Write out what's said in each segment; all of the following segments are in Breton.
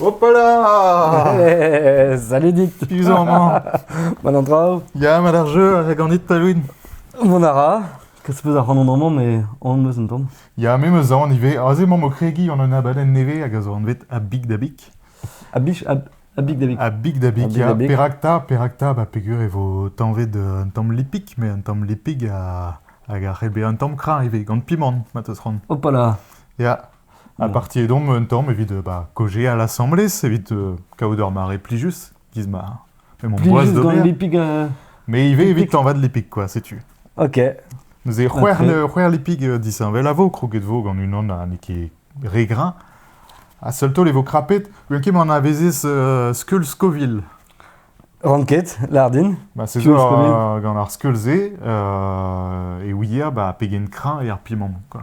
Hopala! Eh, salut Dick Piv zo amañ? Mal an traoù Ya, ma d'ar jeu, a ganit Talouin. Mont a ra Kas peus ac'hanon amañ, mais on meus un tamm. Ya, me meus aon ivez. Aze emaomp o kregiñ gant un abadenn nevez hag a zo anvet A Big da Big. A bich, a, a big davik. A Big da Big, A Big ya. da Big. Perak ta, perak ta, ba peger e vo tañvet euh, un tamm lipig, mais un tamm lipig a- hag a c'hell bezañ un tamm krañ ivez, gant pimant, ma teus c'hoant. Hopala Ya, Ha partiet omp un tamm evit ba kaozeal asambles, evit kaout ur mare plijus, giz ma me 'm amboaz Plijus d'ober. gant lipig. euh, Mais ivez evit tañvat lipig quoi, setu. Ok. Neuze c'hwec'h Ok. le- c'hwec'h lipig euh, disheñvel a vo, kroget vo gant unan ha n'eo ket re greñv. Ha seul taol e vo krapet, gwenan ket anavezez euh, skeul Scoville. Ran ket, lardin. Ba, se zo Skeul Scoville. euh, gant ar skeul-se, euh, e ouier ba, pegen kreñv e ar pimant, quoi.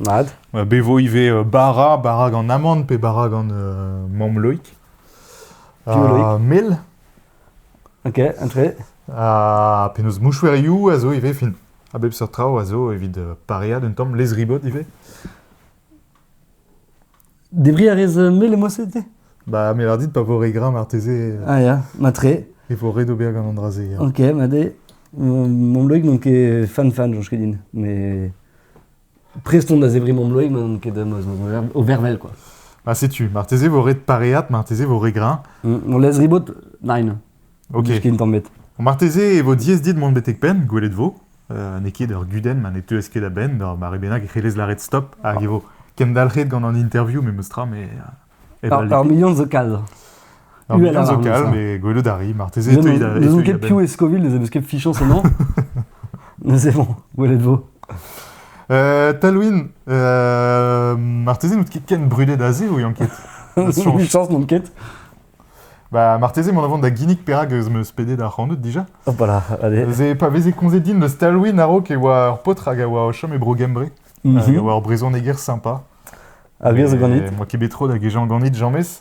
Mat. Bet vo ivez bara, bara gant amann pe bara gant mamm Loïc. Ha mel. Ok, entre. Ha penaos mouchouerioù a zo ivez fin. A bep seurt traoù a zo evit pareañ d'un tamm lez-ribot ivez. Debriñ a rez mel et mousset te Bah, me bar dit pa vo re gra marteze. Ah ya, matre. E vo ret ober gant an dra-se. ya. Ok, ma de. Mam loig n'on ket fan-fan, Josh Kedin. Mais prest on da zebri mam loig, ma n'on ket deus o vervel, quoi. Ah, setu, marteze vo ret pareat, marteze vo re gra. Mm, On laisse ribot? Nein. Ok. Dindan met. Marteze e vo diaes dit mont betek penn, gwelet vo. Uh, N'eo ket ur gudenn ma ne teuez ket a-benn d'ur mare bennak e c'hellez lâret stop hag e vo kendalc'het gant an interview memes tra mais uh, ur, ur million zo kal. Ur million zo kal mais gwelout a ri marteze e teuit a-benn. ket piv e Scoville ne ket fichon son nom. Mais c'est bon, gwelet vo. Euh, Talwin, euh, marteze n'out ket ken brudet aze ou yanket Change chance non ket Bah, marteze mont a vont da ginnig perak ez meus pedet ac'hanout dija. Voilà. Ze, pa veze komzet din eus Talwin a-raok e oa ur paotr hag a oa o chom e Bro-Gembre. Mhm. Hag a oa ur brezhoneger sympa. A vias ganit Moi ket bet tro da gejañ ganit, james.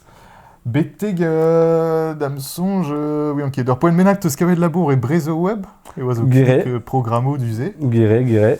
Beteg euh, dam sonj, euh, oui, ok, d'ur poent bennak teus kavet labour e Brezhoweb, e oa zo programmoù du-se. Gire, gire.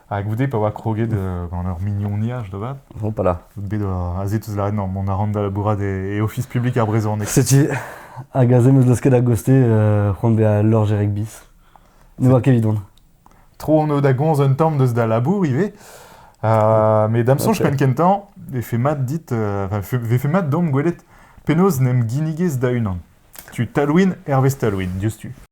Ha goude, pa oa kroget euh, gant ur mignoniaj da vat, Hopala. out bet euh, aze teus lâret, non, mont a ran da labourat e, e ofis publik ar brezhoneg. Setu hag aze meus losket da goste euh, c'hoant bezañ lorjer ek bis. Ne oa ket evidon. Tro on eo da gomz un tamm deus da labour ivez. Euh, mais dam soñj Ok. penn kentañ vefe mat dit, euh, enfin, fe- vefe mat domp gwelet penaos n'em ginnigez da unan. Tu Talwin, Hervez Talwin, diouzhtu.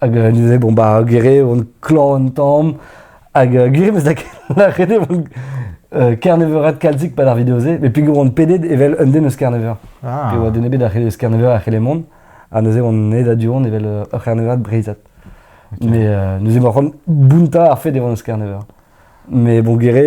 Hag euh, neuze, bon, bah, gere on klor un tamm. Hag euh, gere bez da lâret eo on euh, Carneveurat kalzik pad ar video-se, mais pegour on pedet evel un den eus Carneveur. Ah. Pe oa den ebet a c'helle eus Carneveur a c'helle mont, ha neuze on aet a du-hont evel euh, ur Carneveur breizat. Okay. Mais euh, neuze ma c'hoant bounta ar fet e oan eus Carneveur. Mais bon, gere,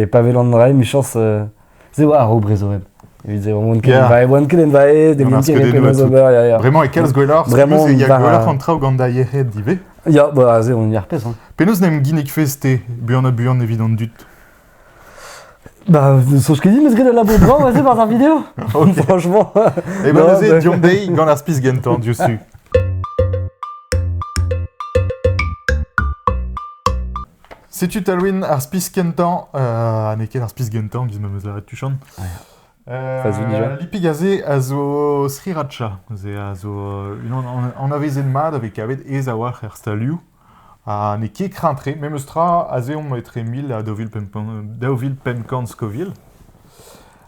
e pa welan rai, michañs, euh, se oa ar brezhoneg evit se oan ket envae oan ket envae demin ket penaos ober ya ya vraiment e kalz gwelloc'h vraiment il y a gwelloc'h an traoù gant da yec'hed ivez ya ba aze on ar pezh hein penaos n'em ginnig feste buan ha buan evit an dud Bah, sauf ce qu'il dit, mais c'est la labour bravo, vas-y, par ta vidéo. Okay. Franchement. Et eh ben, vas-y, dion dei, gant ar spis genton, diouzh Setu Talwyn ar spis kentañ, ha n'eo ket ar spis gentañ, gis memes a ret tuchant. Euh, Vas-y, déjà. Lipig aze a zo Sriracha. Ze a zo unan an- anavezet mat a vez kavet aes a-walc'h er stalioù. Ha n'eo ket kreñv-tre, memes tra a zehomp etre mil ha daou vil pemp- daou vil pemp kant skovil.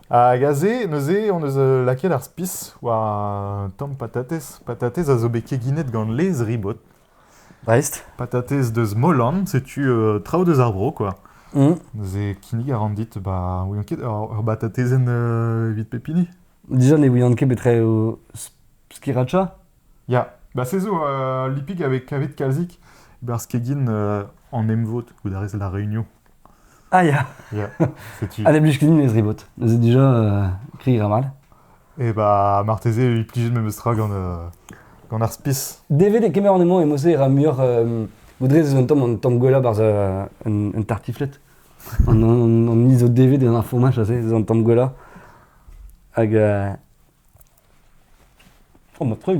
Hag aze, neuze, hon eus euh, lakaet ar spis war un tamm patatez. Patatez a zo bet keginet gant laezh ribot. Prest. Patatez deus Molan, setu euh, traoù deus ar vro, quoi. Mm. Neuze kinnig a ran dit, bah, ouian ket, ur, ur batatezenn euh, evit pep hini. Déjà ne ouian ket betre o sriracha? Ya, bah se zo euh, lipig avec kavet kalzik, bar skegin euh, an emvod, gout a rez la réunion. Ah ya Setu. Allez, blij ganin ez rebot. Neuze déjà, euh, écrit ira mal. Et bah, marteze, il pige même sera gant, euh, gant ar spis. DVD kemer an emañ emañ-se ra muioc'h euh, Baudrez eus un tamm an tamm gwellañ barzh euh, un, un tartiflette. An, an, an mise au DVD d'un fourmage aze, eus an tamm gwellañ. Hag... euh, Oh, ma truc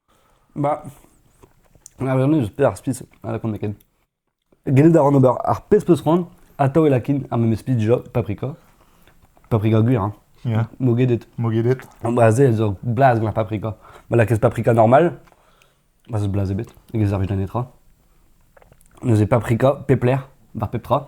Bah, ar wirionez eus peder ar spi, na lakaan ket. Gellet a ran ober ar pezh 'peus c'hoant, atav e lakin ar memes spi dija paprika. Paprika gwir, hein. Ya, Mogedet. mogedet. Ba se ez eo blaz gant ar paprika. Ma lakaez paprika normal, ba zeus blaz ebet, hag e servij da netra. Neuze paprika, pep lec'h, war pep tra.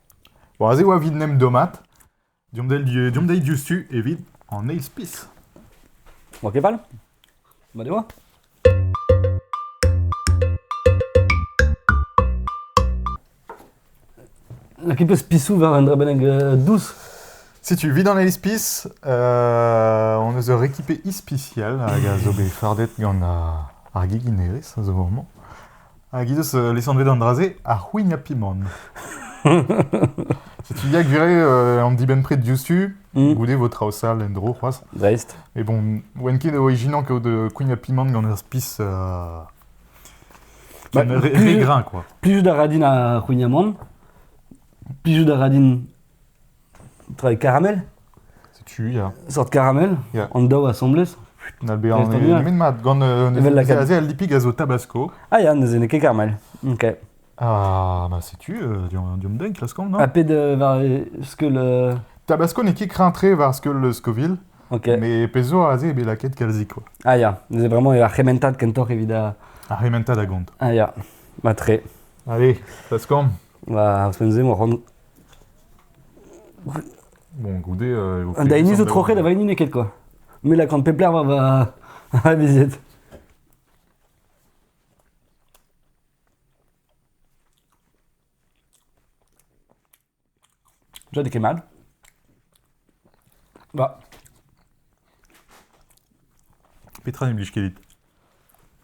War se oa evit 'n em dommat, deomp dezhi deomp dezhi diouzhtu evit an eil spis. Oa ket fall? Mat e oa? Lakaet peus pisoù war un dra bennak euh, dous? Setu, evit an eil spis, euh, hon eus ur ekipe ispisial hag a zo bet fardet gant ar, ar geginerezh a zo amañ. Hag he deus lesanvet an dra-se ar c'houignañ-pimant. Setu ya gwire euh, an dibenn-pred diouzhtu, mm. goude vo traoù sall en-dro c'hoazh. Dreist. Et bon, oen ket o ijinañ kaout euh, kouignañ-pimant gant ur spis euh, bah, ré grain quoi. Plus da radin a c'houignamant, plus da radin Travail caramel Setu, ya. Sort caramel Ya. An daou asambles Put, n'al bet an Leston, ya. nemet mat. Gant euh, Evel la se- se al lipig a zo tabasco. Ah ya, neuze n'eo ket caramel. Ok. Ah, bah setu, euh, diomp diomp den, klaskomp, non Papé de var ce que le... Tabasco n'e ket krentre war skol le Scoville, Ok. mais pezo aze e bet lakaet kalzik, quoi. Ah ya, neuze vraiment eo ar c'hementad kentoc'h evit a... Ar rementa da gont. Ah ya, matre. Allez, klaskomp. Bah, Sensei, mon rond. Bon, goude. Euh, Un daini zo trochet da vaini neket quoi. Mais la grande pepler va va va visiet. Déjà des kemal. Bah. Petra ne blij ket dit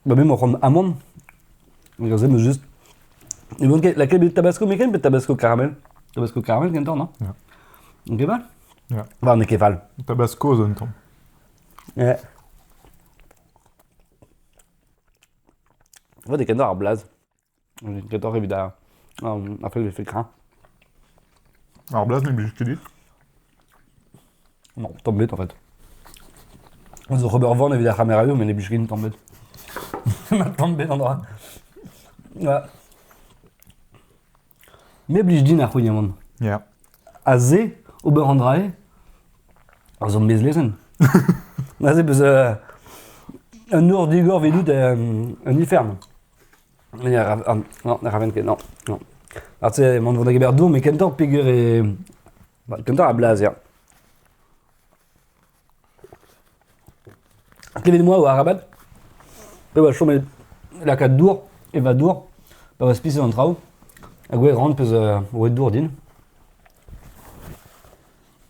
Ba me emañ c'hoant amann, hag aze 'meus just... Ne van ket lakaet bet tabasco meken pe tabasco karamel? Tabasco karamel gantañ, non? Ya. N'eo ket fall? Ya. War n'eo ket fall. Tabasco zo un tamm. Eh. Vat e kendor ar blaz. Gador evit ar, ar fell vefe kreñv. Ar blaz n'em blij ket dit Non, tablette en fait. Zo Robert Van evit ar c'hamerayou, mais les blij ket tablette. tablette en droit. Ouais. Me blij din ar c'houign aman. Yeah. A ze, ober an drae, ar zon bez lezen. Aze beus euh, un nor digor vidout euh, un ifern. Ya, ra- an- non, ne rafen ket, non, non. Ar te emaon o vont da gemer dour, met kentoc'h peger eo... Ba, kentoc'h a blaz, ya. Klevet moi o arabat, pe va chom el lakaat dour, e va dour, pa va spiset an traoù, hag oe ran peus euh, oe dour din.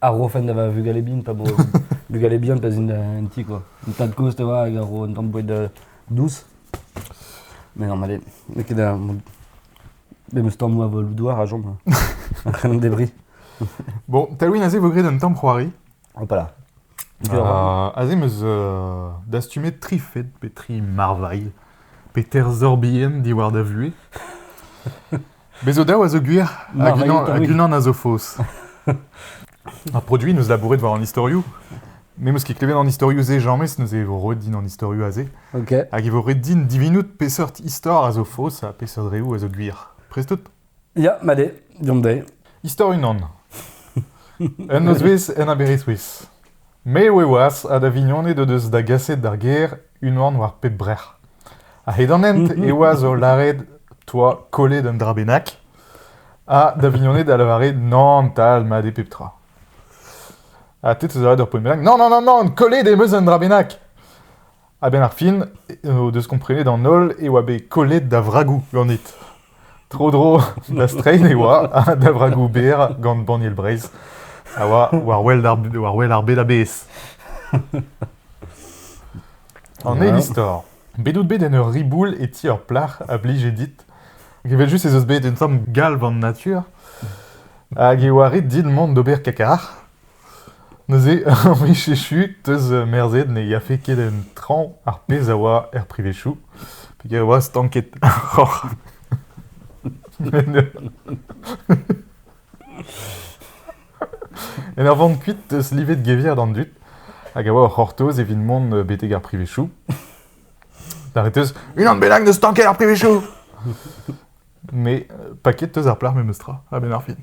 Ar ro fen da va vugale bihan, pa bo bugale bihan, pa zint en ti, quoi. An tad-kozh, te oa, hag ar ro un tamm boued euh, dous. Mais non, allez, n'eo ket da... Memes tamm moa vol douar a jom. Un c'hrenan debri. Bon, Talwin aze vo graet un tamm c'hoari. Hop là. Euh, aze meus euh, dastumet tri fed pe tri marvailh pe terzor bihan diwar da vuhez. Bez' zo daou a zo gwir, hag unan, hag unan a zo faos. Ar produit neus labouret war an istorioù, me meus ket klevet an istorioù-se james, neuze e vo roet din an istorioù-se. Okay. Hag e vo roet din divinout peseurt istor a zo faos ha peseurt reoù a zo gwir. Prest out? Ja, ma de, diomp de. Istor unan. Un nozvezh en aber Eswiz. M'eo eoaz ha da vignoned o deus da gaset d'ar gêr unan war pep brec'h. A-hed an hent, eoaz o lâret 'toa kollet un dra bennak. Ha da vignoned a lavare nann 'tal mat eo pep tra. Ha te 'teus aet ur poent bennak, nann, nann, nann, nann, kollet em eus un dra bennak. A-benn ar fin o deus komprenet an holl e oa bet kollet da vragoù ganit. Tro-dro da strein e oa ha da vragoù berr gant Banniel Breizh a oa war wel ar, war wel ar bed a-bezh. An eil istor. Bet out bet en ur riboul e ti ur plac'h a blije dit. Hag evel just ez eus bet un tamm galv an natur. Hag e oa ret dit mont d'ober kakar. Neuze, a blij echu, 'teus merzet ne yafe ket en traoñ ar pezh a oa er privezioù, peger e oa stanket roc'h. En ur vont kuit 'teus livet gevier d'an dud, hag a oa o c'hortoz evit mont betek ar privezioù. Lâret 'teus unan bennak da stanket ar privezioù! Me, paket 'teus ar plac'h memestra, a-benn ar fin.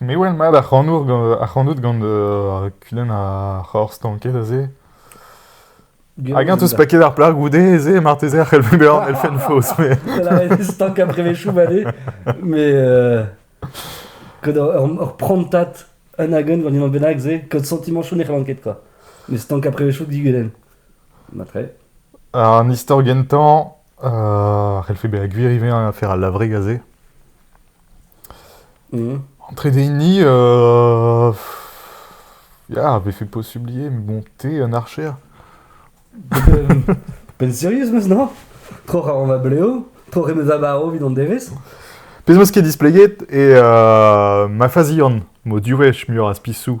Me 'wel mat ac'hanout gant ar kudenn ar c'horr-stanket aze. Hag eñ 'teus paket ar plac'h goude aze, marteze a c'hell bezañ an elfenn faos. mais- Elle avait stank après mes choux vallés, mais euh, kad ur, ur, ur prantad un hag un ganin bennak se, kad santimant chaud ne c'hellan ket quoi. Mais stank après mes choux diguden. Matre. Un istor gentañ a c'hellfe bezañ gwir ivez afer al lavreg aze. Mhm. En trede euh, Ya, befe posibilier, mais bon, t'es un archer. Pell sérieux, meus, non? Tro ra an va bleo, tro re meus amaro vit an devez. Pezh 'meus ket displeget, e euh, ma fazian m'o diwech muioc'h a spisou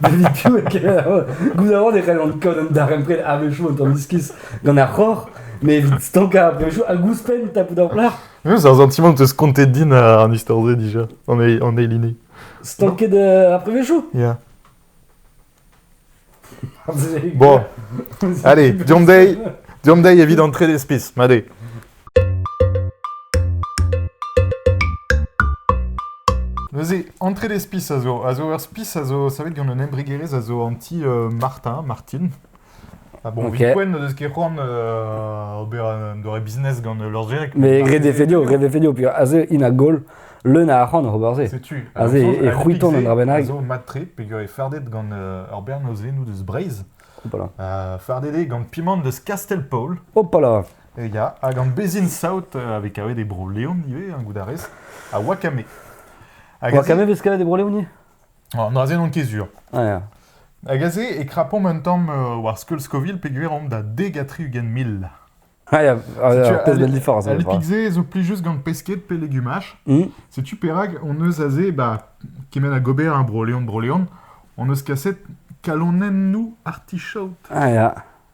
David Gouzañv e c'hellont kaout an darempred a-wechoù un tamm iskis gant ar c'hor, mais evit stankañ a-wechoù hag ouzhpenn tapout ar plac'h. C'est un sentiment de se compter din en histoire D déjà, en, en Eiline. Stanket euh, après wechoù Yeah. Bon, allez, Diomdei, Diomdei évite d'entrer des spices, m'allez. Neuze, entrez les spis a zo, a zo ur spis a zo savet gant un embregerezh a zo an ti euh, Martin, Martin. Ah bon, okay. Vipwen n'eus ket c'hoant uh, ober un doare business gant leur gerek. Mais redefenio, redefenio, puis aze in a gol, leun a arc'hant ober se. Setu. Aze e c'hwiton un drabenag. A zo matre, peger e fardet gant uh, ur bern eus nous deus Breizh. Hopala. Uh, fardet eo gant pimant deus Castelpaul. Hopala. Ya, hag an bezhin-saout a vez kavet e Bro-Leon ivez, hein, goût a rez, ha wakame. Hag aze- Wakame vez kavet e Bro-Leon ivez Oh, Non, aze n'on ket sur. Ah ya. Hag aze e krapomp un tamm euh, war skeul Scoville peogwir omp da deg ha tri-ugent mil. Ah ya, ah, Setu alors, peut-être de différence. Ali Pigze zo plijus gant pesked pe legumaj. Hmm. Setu perak on eus aze bah, kement a gober hein, Bro-Leon, Bro-Leon, on eus kaset kalonennoù artichaut. Ah ya.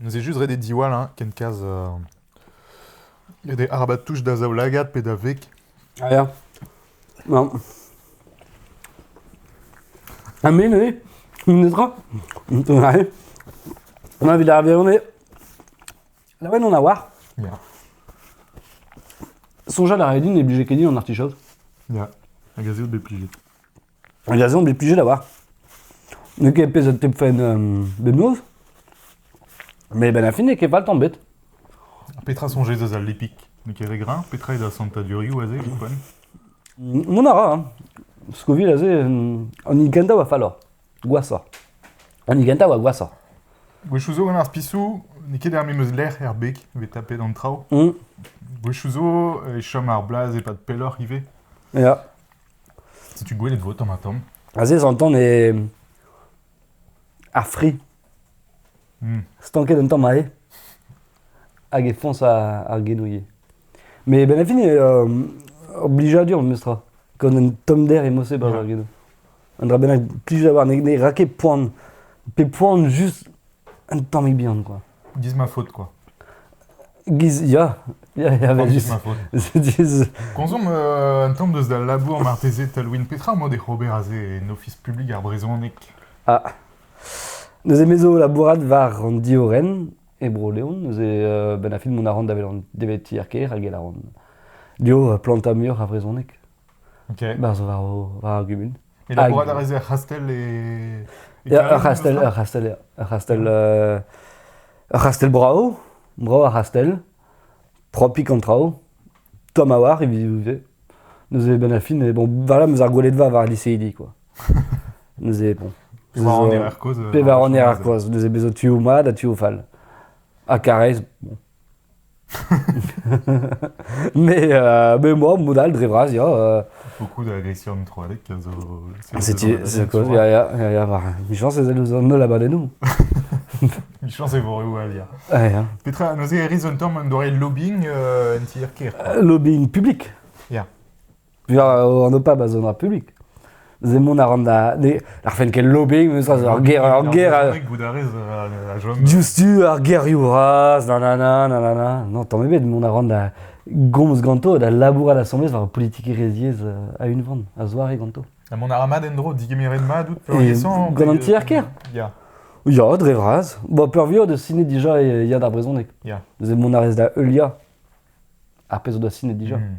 Neuze just ret eo diwall hein, ken kaz euh, ret eo arabat touch da zaoulagad pe da veg. Ah ya. Bon. Ha me neuze Netra Ouais. Ma vit ar verone. Laouen on a war. Yeah. Sonja la redine et budget kedin en artichaude. Yeah. Hag a zeout bet plijet. An diazon bet plijet a-walc'h. N'eo ket pezh a tep fent bemnoz, met benn ar fin n'eo ket fall tamm bet. Petra soñjez eus al lipik N'eo ket re greñv Petra eo da santadurioù aze evit poent Mont a ra, hein. Scoville aze, an hini kentañ oa falloc'h, gwashoc'h. An hini kentañ oa gwashoc'h. Gwechoù zo gant ar spisoù, n'eo ket ar memes lec'h er beg evit tapet an traoù. Mm. Gwechoù zo e chom ar blaz e-pad pelloc'h ivez. Ya. Setu gwelet vo tamm-ha-tamm. Aze zantan eo ar fri. Hmm. Stanket un tamm aze. Hag e foñs ar, ar genouilh. Mais ben a fin, euh, ur blijadur memes tra. Gant un tommder emos-se barzh ar genou. Un dra bennak, plij d'avoir ne, ne ra ket poan. Pe poan juste Un tammig bihan, quoi. Giz ma faute, quoi. Giz, ya, ya, ya, mais Giz ma faute. Giz- Konzom euh, un tamm deus da labour marteze Talwin petra emañ de ober aze en ofis publik ar brezhoneg Ah. Neuze mezo labourat war an diorenn e Bro-Leon. Neuze euh, ben a fin mont a ran da welan deveti ar kêr hag e laran. Dio euh, planta muioc'h a vrezhoneg. Berzh war ar gumun. Et labourat a rez er c'hastell e... Ur c'hastell, ur c'hastell, ya. Ur c'hastell, ur c'hastell brav, brav ar c'hastell, propik an traoù, tomm a oar evit neuze ben a fin bon voilà meus ar gwelet va war liseidi quoi neuze bon pevar an erer kozh pe war an erer kozh neuze bezo tu o mad ha tu o fall ha Karrez bon me moa mod all dre vras ya euh, Beaucoup d'agressions introadek a zo... setu c'est quoi ya ya ya ya bah, michañs ez eus an holl abadennoù Michañs e vo reoù all ya Ah, ya Petra, neuze, Arizontor, man doare lobbying euh, en tier kêr quoi. lobbying publik Ya an OPAB a zo ar publik. Ze mont a ran da... Ar fen ken lobby, meus ur ger... Ur ger... Diouzhtu ar gerioù raz, nanana, nanana. Non, tamm ebet, mont a ran da gomz ganto da labourat asambles war politikerezhiez euh, a unvan, a zoare ganto. Ha mont a ra mat en-dro, digemiret mat out peurliesañ Gant an tier ker Ya. Ya, dre vras. Bon, peurvuiañ de ciné déjà, il y a d'ar brezhoneg. Ya. Ze mont a rez da heuliañ ar pezh o da ciné déjà. Hmm.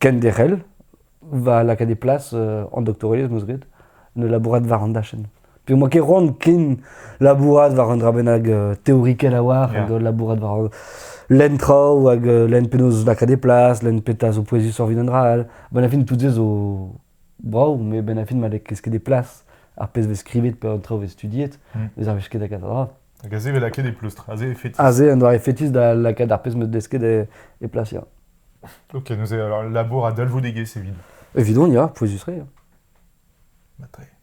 kenderc'hel va lakaat e plas an doktorelezh 'm eus graet ne labourat war an dachenn. Pe'mañ ket c'hoant ken labourat war un dra bennak teorikel a-walc'h hag labourat war lenn traoù hag lenn penaos lakaat e plas, lenn petra zo pouezus evit un dra all. Abaoe fin tout se zo Bravo, met benn ar fin ma vez kresket e plas ar pezh vez skrivet pe an traoù vez studiet, hmm. vez ar vez ket da kaset dra. Hag aze vez lakaet e pleustr, aze e fetis. Aze un doare fetis da lakaat ar pezh meus desket e, e plas, ya. Ok, nous, alors, labour à dalvoudegez evit. Evidon, ya, pouezus-tre. Bah, très.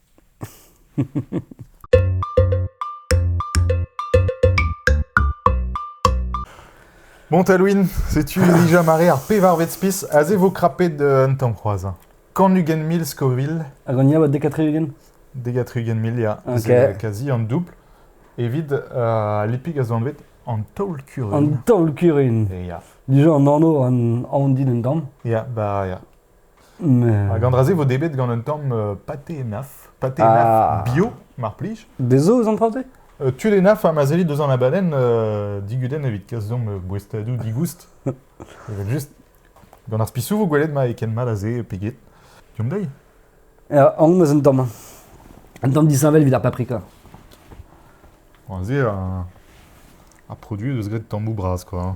Bon Talwin, setu dija mare ar pevarvet spis a zevo krapet un tamm c'hoazh. Kan ugent mil skovil. Hag an ia bat dek ugent? Dek ugent mil, ya. Okay. Kazi an doubl. Evit uh, lipik a zo anvet an taol-kurun. An taol-kurun? Ya. Dija an anv an aon din un damm? Ya, ba, ya. Hag an dra-se vo debet gant un tamm euh, pâté naf. Pâté ah. naf bio, mar plij. Des os emportés euh, Tud e naf ha ma zellit deus an abadenn euh, diguden evit kas deomp boestadoù digoust. Evel just, gant ar spisou vo gwelet ma e ken mat aze peget. Diomp dezhi. An eus un tamm. Un tamm disheñvel evit ar paprika. Aze, un, un produit deus graet tammoù bras, quoi. Hein.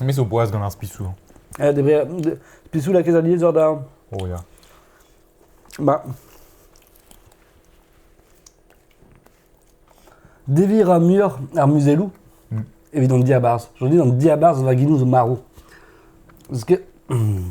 Me zo boaz gant ar spisoù. Eh, debriñ, de- pisoù lakaet alies war darn. Oh ya. Bah. Deviñ ra muioc'h ar muzelloù Mm. evit hon diabarzh. Je dis an diabarzh vaginou zo marv. Parce que... hmm,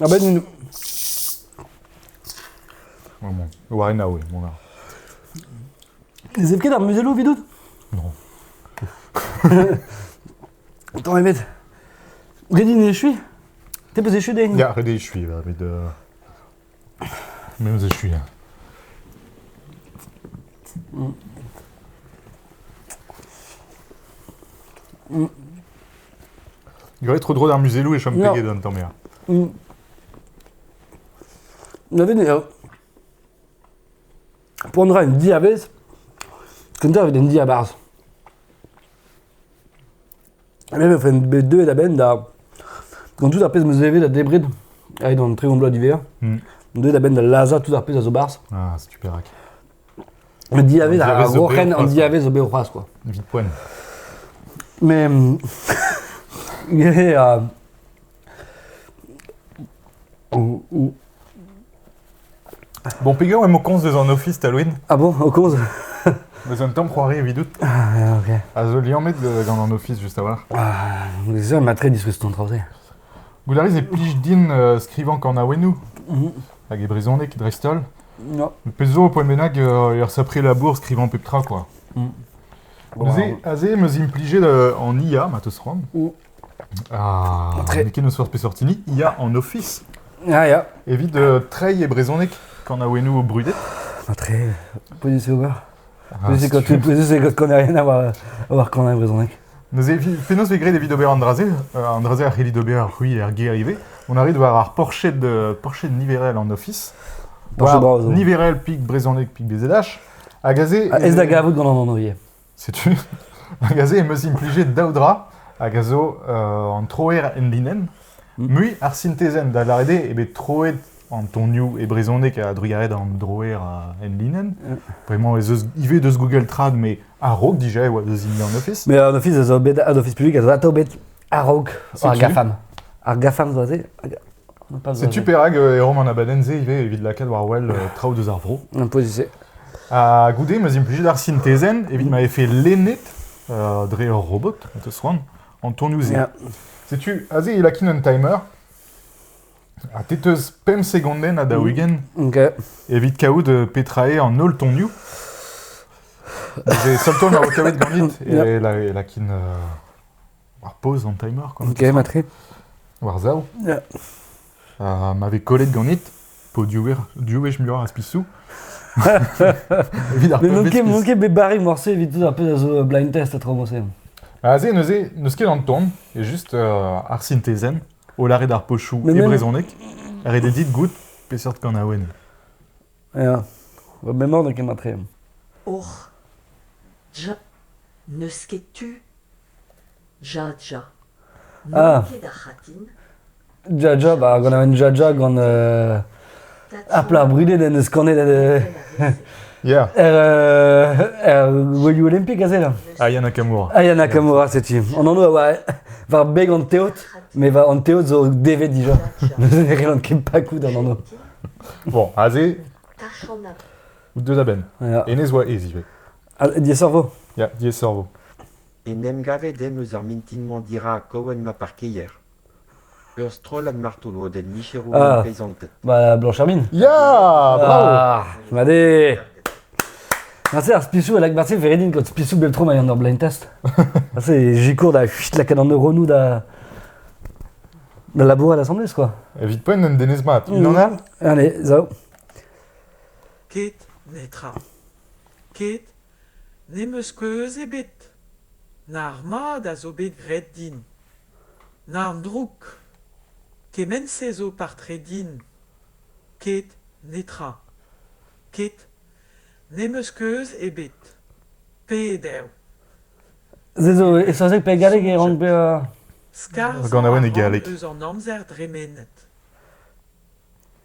Abenn War en aoue, mont a. Ne zev ket ar muzello evidout? Non. Tamm ebet. Red din echui? Te peus echu din? Ya, ret eo echuiñ, va, met... euh, Me eus echuiñ. hein. Graet tro-dro d'ar muzelloù e chom peget an tamm ya. Neuze ne poan ra un diavez kentañ evit un diabarzh. Me e vefen bet deuet a-benn da, gant tout ar pezh 'm eus evet da debret aet an tregont bloaz d'hiver, deuet a-benn da lazhañ tout ar pezh a zo barzh. Ah, c'est super rack. Un diavez, ar Roc'hen, an diavez zo bet c'hoazh, quoi. Evit poen. Mais... euh, Bon, pigur, emañ konz deus an office Halloween Ah bon, au konz Deus un tamm c'hoari evit out. Ah, ok. A zo liammet gant an office, juste avoir. Ah, les hommes a très disfrute ton travail. Goulariz e plij din euh, skrivañ kanaouennoù mm -hmm. hag e brezhoneg dristol. Pezh zo, poent bennak e resapre labour skrivañ pep tra, quoi. Mm. Neuze, aze em eus implijet euh, an IA, ma teus c'hoant. Mm. Ah, n'eo ket n'eus peseurt hini, IA en Office. Ah, ya. Evit euh, treiñ e brezhoneg quand aoenou brudet. Ah, treiñ, poen se ober. Neuze gant konerien war kanañ brezhoneg. Neuze, penaos vez graet evit ober an dra-se An dra-se a c'hellit ober c'hwi er gêr ivez. On arrive war ar porched, porched niverel an Ofis. War niverel pik brezhoneg pik BZH. Hag aze... Ez da gavout gant an anvrier. Setu. Hag aze em eus implijet daou dra hag a zo an troer en binenn. Hmm. Mui ar sintezenn da lâret eo bet troet an tonioù e brezhoneg a-drugarez an droer enlinenn. Vraiment ez eus ivez deus Google Trad, mais a-raok dija e oa deus hini an Office. Mais an Office zo bet an Office public a zo bet a-raok ar GAFAM. Ar GAFAM zo aze. C'est-tu Perag euh, e Rom an abadenn-se ivez evit lakaat war wel euh, traoù deus ar vro Un peu se. Ha goude ma implijet ar sintezen evit ma fait lennet euh, dre ur robot, te soan, en tonioù-se. C'est-tu aze il a un timer Ha te 'teus pemp segondenn ha daou-ugent evit kaout petra eo an holl tonioù. Neuze, seul ton a vo kavet ganit e lakin ar pause en timer. Game a tre. War zav. Ha ma vez kollet ganit, po diouech muioc'h a spisou. N'on ket bet barré morse evit tout ar pezh a zo blind test a tro morse. Ah, se, neuze, n'eus ket an ton, e juste euh, ar sintezen. o lâret ar pochoù e brezhoneg, redet dit goût peseurt kanaouenn Ya, va memor n'eo ket matreem. Och, ja, n'eus ket tu. Ja, ja. N'on Ah. ket ar c'hatin. Jaja, ba, gant aven jaja gant... euh, Ar plac'h brudet en deus kanet er, er Welioù Olympik aze là. Ayana Kamura. Ayana Kamura, c'est qui On en a war, war beg an teod, mais war an teod zo devet déjà. Neuze ne relan ket pas kout an anv. Bon, aze, ou deux abenn. Ja. Enez oa ez ivez. Diasorvo Ya, diaes sorvo. En em gavet em eus ar mintin-mañ dirak Cohen ma parkeier. Ur strollad martoloded micherour peisanted. Bah, Blanche Herbine Ya Bravo Made Marse ar spisou elak marse veredin kot spisou beltro mai an ur blind test. Marse jikour da chut lakat an neuronou da da labour à l'assemblée, quoi. Evit poen un denez mat. Il en a Allez, zao. Ket netra. Ket ne meus keuz ebet. Nar mad a zo bet graet din. N'arm drouk! Kement-se zo par-tre din! Ket, netra. Ket, n'em eus keuz ebet. Peder. Se zo e saozneg pe e galleg e rank bezañ... Skarzh Ar ganaouenn e galleg. eus an amzer dremenet.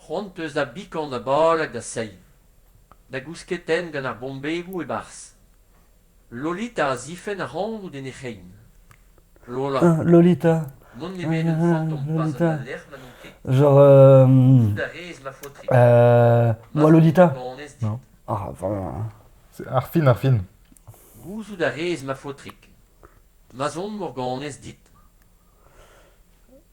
C'hoant 'peus da bikan da bal hag da sein? Da gousketenn gant ar bombegoù e-barzh? Lolita a zifenn ac'hanout en he c'hein. Lola. Lolita. N'on nemet un fantom pas gant al lec'h ma n'on ket. Genre... Euh... Dont a rez, ma faotrig. Euh... Moi, Lolita Non. Ah, vraiment... Ar fin, ar fin. Gouzout a rez, ma faotrig. Ma'z on, Morganez, dit.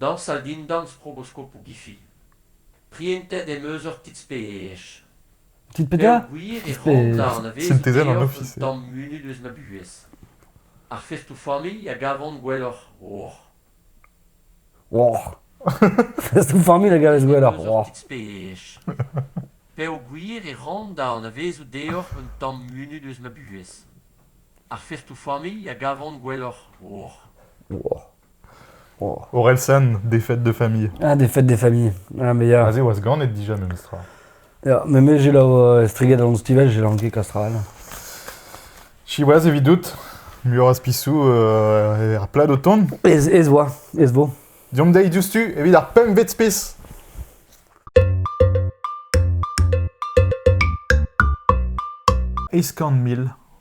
Dañsal dindan sproboskopoù Giffy. Prientet em eus ur kits-peej. Kit peogwir e c'hoanta anavezout deoc'h un tamm munut eus ma buhez. Ar festoù-familh a gavan gwelloc'h oc'h. Oc'h Festoù-familh a gavez gwelloc'h oc'h. Peogwir e ran da anavezout deoc'h un tamm munut eus ma buhez. Ar festoù-familh a gavan gwelloc'h oc'h. Orelsan, défaite de famille. Ah, défaite de famille. Ah, mais ya. Aze oa ganet dija memestra. Ya, mais me j'ai lao striget an stivel, j'ai lanqué Castral. Siwaz evidout, muioc'h spisou euh, er plad o tont. Ez, ez oa, ez vo. Diomp dezhi diouzhtu evit ar pemvet spis. Eizh kant mil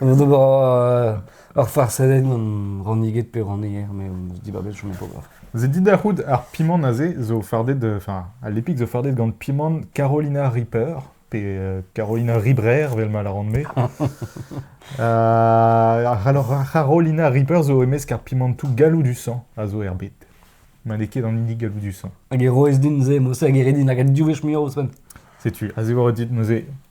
An ober ur farsadenn gant ranniget pe rannier, mais dibabet, j'en ai pas grave. Vous êtes dit da c'hoût ar pimant aze zo fardet, enfin, à l'épique zo fardet gant pimant Carolina Reaper, pe euh, Carolina Ribrer, vel ma la ran-me. uh, alors, Carolina Reaper zo emesk ar pimantou galou du sang a zo er bet. Ma n'eo ket an hini galou du sang. Hag e roez din ze, mos hag e redin hag a diouwech muiañ ouzhpenn. Setu, a zevor dit neuze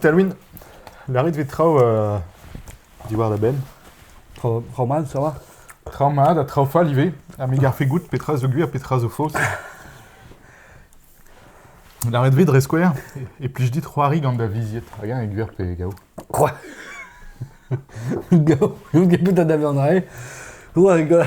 Talwyn, lârit 'vit traoù euh, diwar da benn. Traoù traoù mat a-walc'h. Traoù mat ha traoù fall ivez, ha me garfe goût petra zo gwir, petra zo faos. Lâret 'vit dre skouer, e plij dit c'hoari gant da vizied, hag eñ e gwir pe gaou. Quoi Gaou, n'out ket bet da davean rae. Ouah, ga-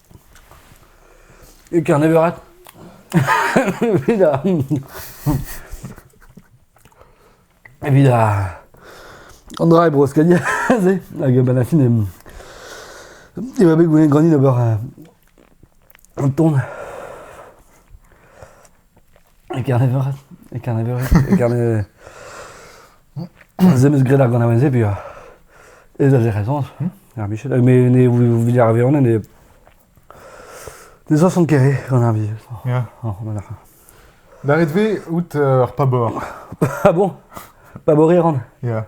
E Kerneverat evit a- evit a- an dra e Bro-Skagn aze hag a-benn ar fin em- e oa bet goulenn ganin d'ober un- un ton. E Kerneveure, e Kerneveure, e Kerne... Se 'meus graet ar ganaouenn-se peogwir. E da Jerezans, ar Michel, me ne Villarveon ne... Ne zasont ket re gant ar vi. Ya. Oh, voilà. Davet 'vez out ur pabor. Ah bon? Pabor eran? Ya.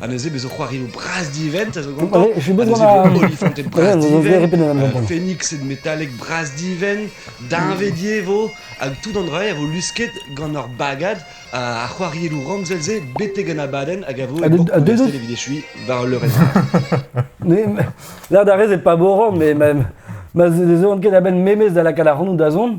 Ha neuze bezo c'hoarioù bras divent a zo gantañ. Ha neuze bezo Olifanted bras divent, euh, Phoenixed metalek bras divent, Deñvedier vo, hag tout an dra a vo lusket gant ur bagad a c'hoarieloù ramzel-se betek an abadenn hag a vo e evit echuiñ war leur L'air d'arrêt, c'est pas borant, mais ma, ma, ne ket a-benn memez da lakaat ar c'hanout da zont.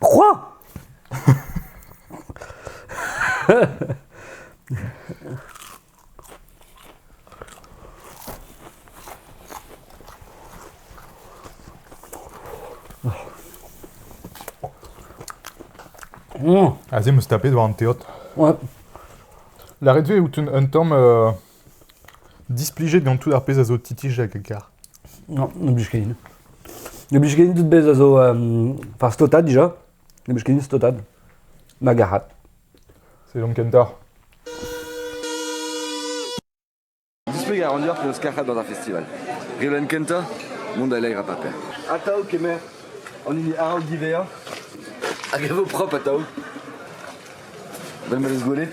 Quoi Aze 'm eus tapet war an teod. Ouais. La ret-se out un tamm euh, Displijet gant tout ar pezh a zo Titij hag Agar. Non, n'em blij ket din. Ne blij ket din tout pezh a zo euh, Par stotad dija. Ne blij ket din stotad. Ma garad. C'est Jean Kentar. Displeg a ran deoc'h penaos karc'hat gant ar festival. Galen kentañ, monde à l'air à paper. Atao kemer, an hini araok divezañ. Hag e vo propre atao. Vel ma deus gwelet.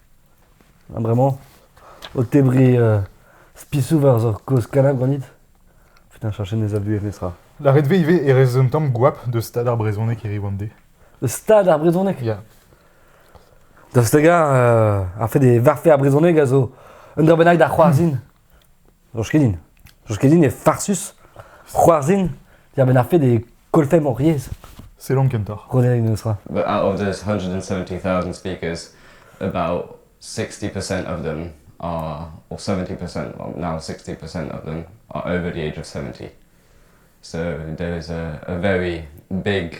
bremañ o tebriñ spisoù war kozh Kanab ganit putain cherchet ez a vuhez netra La ret ivez e rez un tamm goap deus stad ar brezhoneg hiriv an de Deus stad ar brezhoneg Ya Daoust hag ar fait e varfe ar brezhoneg a zo un ur bennak da c'hoarzhin Soñj ket din. Soñj ket din eo farsus c'hoarzhin dibenn ar fed e kollfemp hor yezh. Selon kentoc'h. Rodelenn eus ra. But out of those 170,000 speakers, about 60% of them are, or 70%, well, now 60% of them are over the age of 70. So there is a, a very big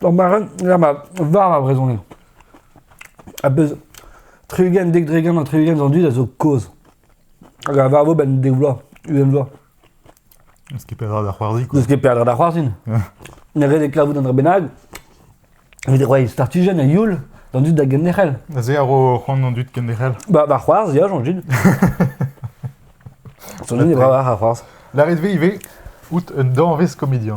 Ur mareun, ya ma, war ma brezhoneg. A-bezh tri-ugent, dek dre-ugent ha tri-ugent an dud a zo kozh. Hag a varvo benn dek vloaz, ugent vloaz. N'eus ket peadra da c'hoarzhin, quoi. N'eus ket peadra da c'hoarzhin. Ne ret e kavout un dra bennak. Evit e roiñ startijenn a youl d'an dud da genderc'hel. Se a ro c'hoant an dud kenderc'hel. Ba, ba c'hoarzh, ya, Jean-Gilles. Son dud e bravañ a c'hoarzh. Lârit-ve ivez out un danvez komedian.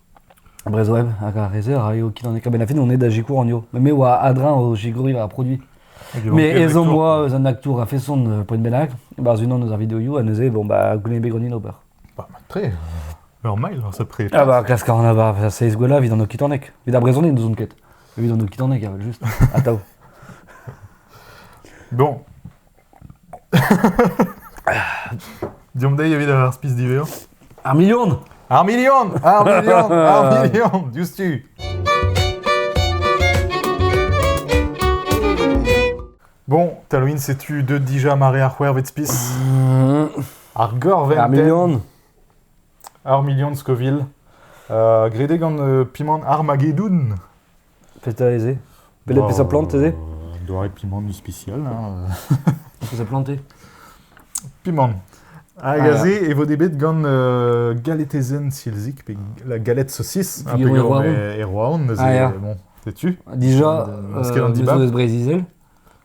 Brezhoneg hag ar re-se a raio ket an ekabennad Fenoned da sikour anezho. Mais me oa a-dreñv o sikouriñ war ar produit. Hag e Mais manke ezhomm aktour. oa eus an aktour a-feson euh, poent bennak, e-barzh unan eus ar videoioù, ha neuze, bon, bah, goulenn bet ganin ober. Bah, mat-tre. Normal, alors ça pré. Ah bah, klask a ran abar, ça seiz gwella evit an okitaneg. Evit ar brezhoneg n'ouzon ket. Evit an okitaneg, aval juste. Atav. Bon, Deomp dezhi evit ar spis diverrañ. Ar milion Ar milion Ar milion Ar milion Diouzhtu Bon, Talwin, setu deux déjà mare ar c'hwervet spis. Ar gorvenn Ar milion Ar milion Scoville. Euh, gredé gant euh, pimant Armageddon Petra ez eo Belet bezañ plantet eo Doare pimant ispisial. Hein. Bezañ plantet Pimant. Hag ah, aze e vo bet gant uh, galetezen silzik, pe la galette saucisse, ah, Erwaon. Erwaon, neuze, ah, bon, sais-tu Déjà, euh, an dibab. Brezizel.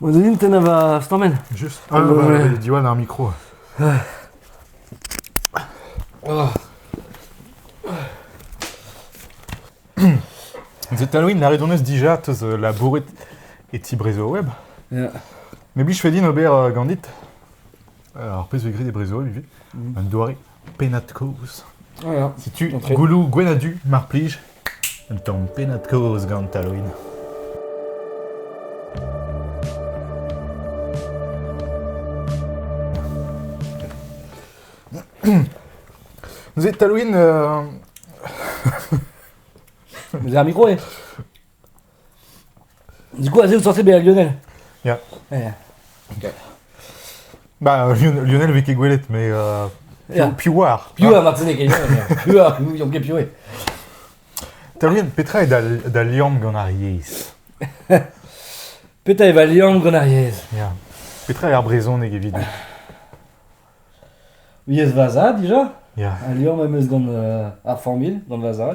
Bon, Denis, t'en va stammen Juste un, euh, Diwan a un micro. Oh. The Halloween la redonneus dija teus euh, labouret e ti Brezo Web. Yeah. Mais bli je fais din ober euh, gandit. Alors, pez vegrit e Brezo Web, un doare. Pennad-kaoz. Setu gouloù Gwenn-ha-Du, mar plij. Un tamm pennad-kaoz gant Taloin. Vous êtes Taloin euh... Vous avez un micro, hein Du coup, Aze, vous sortez bien Lionel Ya. Yeah. Bah, Lionel, Lionel avait ket gwelet, mais euh, Ya. Pi- Piouar. Piou a ma pene ket Piou a Piou ket Piou Taolian, petra eo da, da liamm gant ar yezh Petra e va liamm gant ar yezh Ya. Petra eo ar brezhoneg evidout Yezh Vaza, déjà Ya. Al liamm em eus gant euh, ar formule, gant Vaza.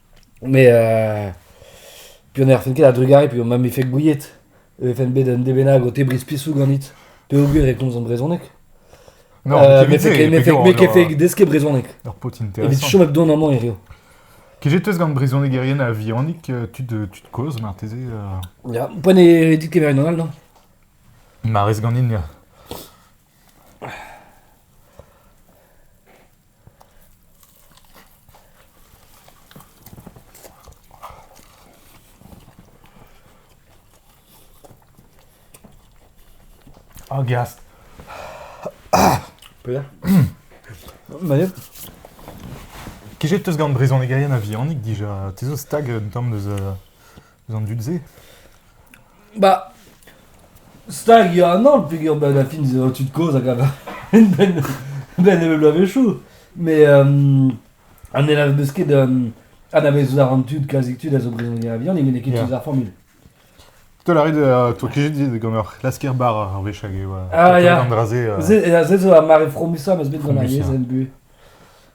Met euh, peogwir ne erfent ket a-drugarez peogwir ma 'm befe gouiet e vefen bet un dez bennak o tebriñ spisoù ganit peogwir e komzan brezhoneg. Non, Euh, mais fait, mais fait- mais kefe deske brezhoneg. Ur paotr Evit intéressant. chom hep dont amañ hiziv. Kezetez gant brezhonegerien a-vihanik, euh, tu te, tu te causes marteze euh, Ya, Poan e dit kemeret an aldañ. Ma rez ganin ya. Oh, Gast. Peter Manet Kejet teus gant brezhonegerien a-vihanik dija. Te zo stag un tamm deus uh, eus an dud-se Bah, stag eo an holl peger ben a fin eo tud kozh hag a ben ben evel bloavezhioù. Mais um, an elav eus ket um, anavezout a ran tud, klazik tud a zo brezhoneg a vihan, ne met ket Yeah. tud ar formule. Te a rit, euh, toi qui dit gant ur lasker bar ar wech hag e oa. Ah, ya. An dra-se. euh, Se, eh, se zo ar mare fromusa ma eus bet gant ar Fromusa. yezh en bu.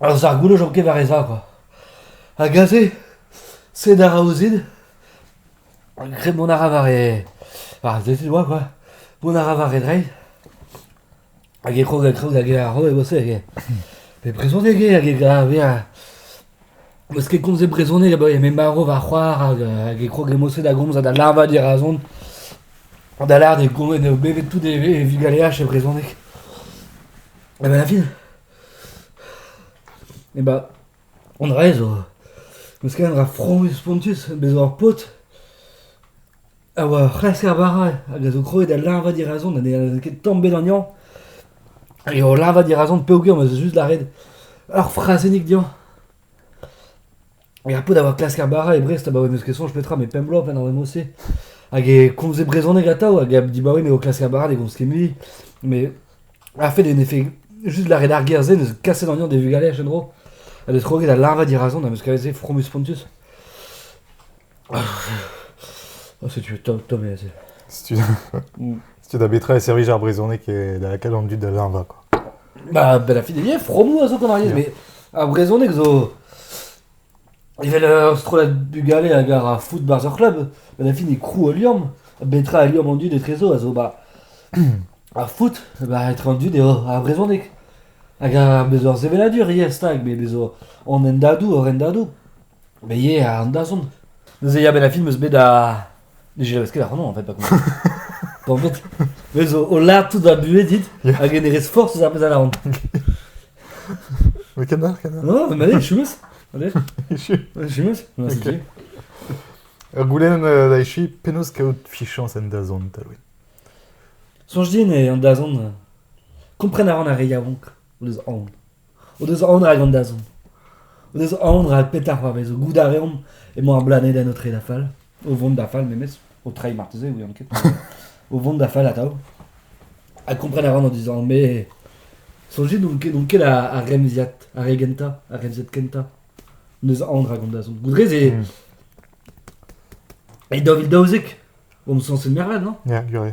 Ar sargouloz zo ket war e zagor. Hag aze, sed a ra ouzin, graet mont a ra war e... war ar sezon oa quoi. Mont a ra war e dreid. Hag e krog, e krog hag e aro e boas hag e... E brezhoneg eo hag e gaver... Eus ket komz e brezhoneg abaoe m'emañ marv va c'hoar hag, hag e krog e moset da gomz ha da larvañ dirazon. Da lâret e go- eo bevet tout e, e vugaleaj e brezhoneg. Ha ben a fin, E ba, an dra-se zo, n'eus ket un dra fromus spontus, bez' zo ur paotr a oa ur c'hlasker bara hag a zo krouet da leñvañ dirazon ha ne ket ket tamm bet anezhañ. Hag eo o leñvañ dirazon peogwir ma zo just lâret ur frazennig dezhañ. E ar pod a oa klask ar bara e Brest abaoe n'eus ket soñj petra, met pemp bloaz pa n'en deus ket. Hag e komze brezhoneg atav, hag a dibaoe ne o klask ar bara, ne gomz ket mui. Mais ar fait en effet, juste lâret ar ger-se, neus kaset an de vugale en-dro. Ha d'et kroget da leñvañ dirazon, ha meus kavet se fromus spontus. Oh, c'est top, top, c'est... Setu da betra e servij ar brezhoneg e da lakaat an dud da leñvañ quoi. Bah, ben la fille est bien fromou a zo gant ar yezh, Yeah. mais ar brezhoneg zo... Evel euh, strollad bugale hag ar foot bars ar club, ben la fille est crou a liorm, betra a liorm an dud etrezo a zo bah... ar foot, bah etre an dud eo ar brezhoneg. Hag ar bezo ar seveladur, yes, stag, mais bezo an endadou, hor endadou. Mais yeah, an dazont. Neuze ya, ben a film eus bet da... Ne jeleus ket ac'hano, en fait, pa kompren. pa en fait, bez o, o lard tout da buhez dit, Yeah. hag e ne rez forz eus ar pezh a lavan. Mais canard, canard. Non, ma je suis Allez, je suis Non, c'est Ok. qui Ur goulenn euh, da echu, penaos kaout fichañs en dazont, Alwin Soñj din e an dazont euh, kompren a ran ar re yaouank o deus aon. O deus aon rak an dazont. O deus aon rak petra c'hoarvezo. Goût a reomp emañ ar blanedenn o treiñ da fall. O vont da fall memes. O treiñ marteze, ouian ket. o vont da fall atav. Ha kompren a ran o dizan, me... Soñjit n'on ket, n'on ket ar, ar remziad, ar re gentañ, ar remziad kentañ. N'eus aon rak an dazont. Goude ez eo... E daou vil daouzek, omp sañset mervel, non? Ya, gure.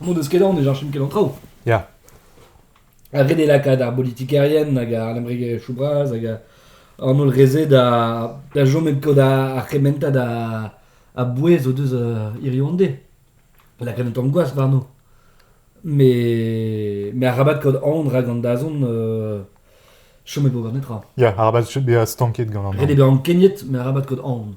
Mont eus kedan e cheñchin ket an traoù. Ya. Ha ret eo lakaat ar bolitikerien hag ar lemmregezhioù bras hag an holl re-se da, da chom e kod ar c'hementad a, a bouez o deus hiriv an de. Lakaat un tamm gwas warno. Met, met arabat kaout aon rak an dazont chomet eo war netra. Ya, arabat bezañ stanket gant an... Ret eo bezañ keniet, met arabat kaout aon.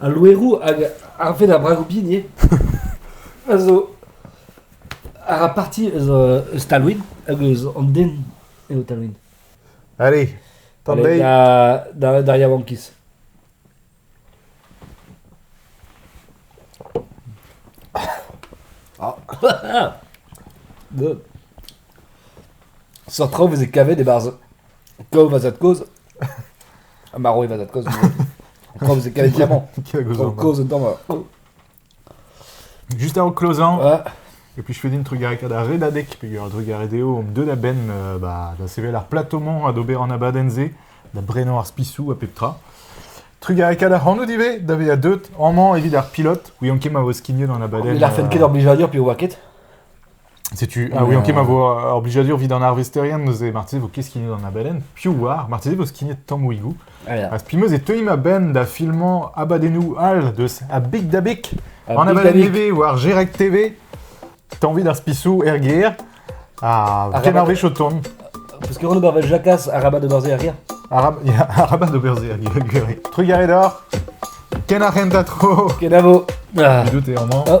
Al loeroù hag arved ar bragoù-bin ivez a zo a ra parti eus euh, eus Talwyn hag eus an den eo Talwyn. Allez, t'en Allez, deiz. da, da, da yaouankiz. Good. Sort traoù veze kavet e-barzh Kaoz va zad-kozh Ha marv e va zad-kozh Kaoz e kavet diamant Kaoz un damar Juste avant closant ouais. Et puis je fais un trugaré da redadek peger trugaré deo om deut a-benn euh, bah, da sevel ar platomant adober an abadenn-se da brenañ ar spisou a pep tra. Trugareka da c'hanout ivez, da vezañ deut, amañ evit ar pilot, ouian ket ma vo skignet an abadenn. Mais l'arfen ket d'obliger à dire, puis on voit ket. Setu, ah oui, ok, ma vo ar blijadur vit an arvesterien neuze, marteze vo ket skignet an abadenn. Piv oar, marteze vo skignet tammouigou. Ah, Raz pimeus e teuimp a-benn da filmañ abadennoù all deus a Big Dabik, A an Big abadenn Dabik. TV war Gerag TV. T'as envie d'ar spisou RGR Ah, Ah, kenarvech o tont. Parce que Renaud Jacasse a rabat de Barzé à rire. Arab, ya, arabat d'ober zer, gure. Trugaret hor, ken ar rentatro. Kenavo. Ah. Dout e amañ. Oh.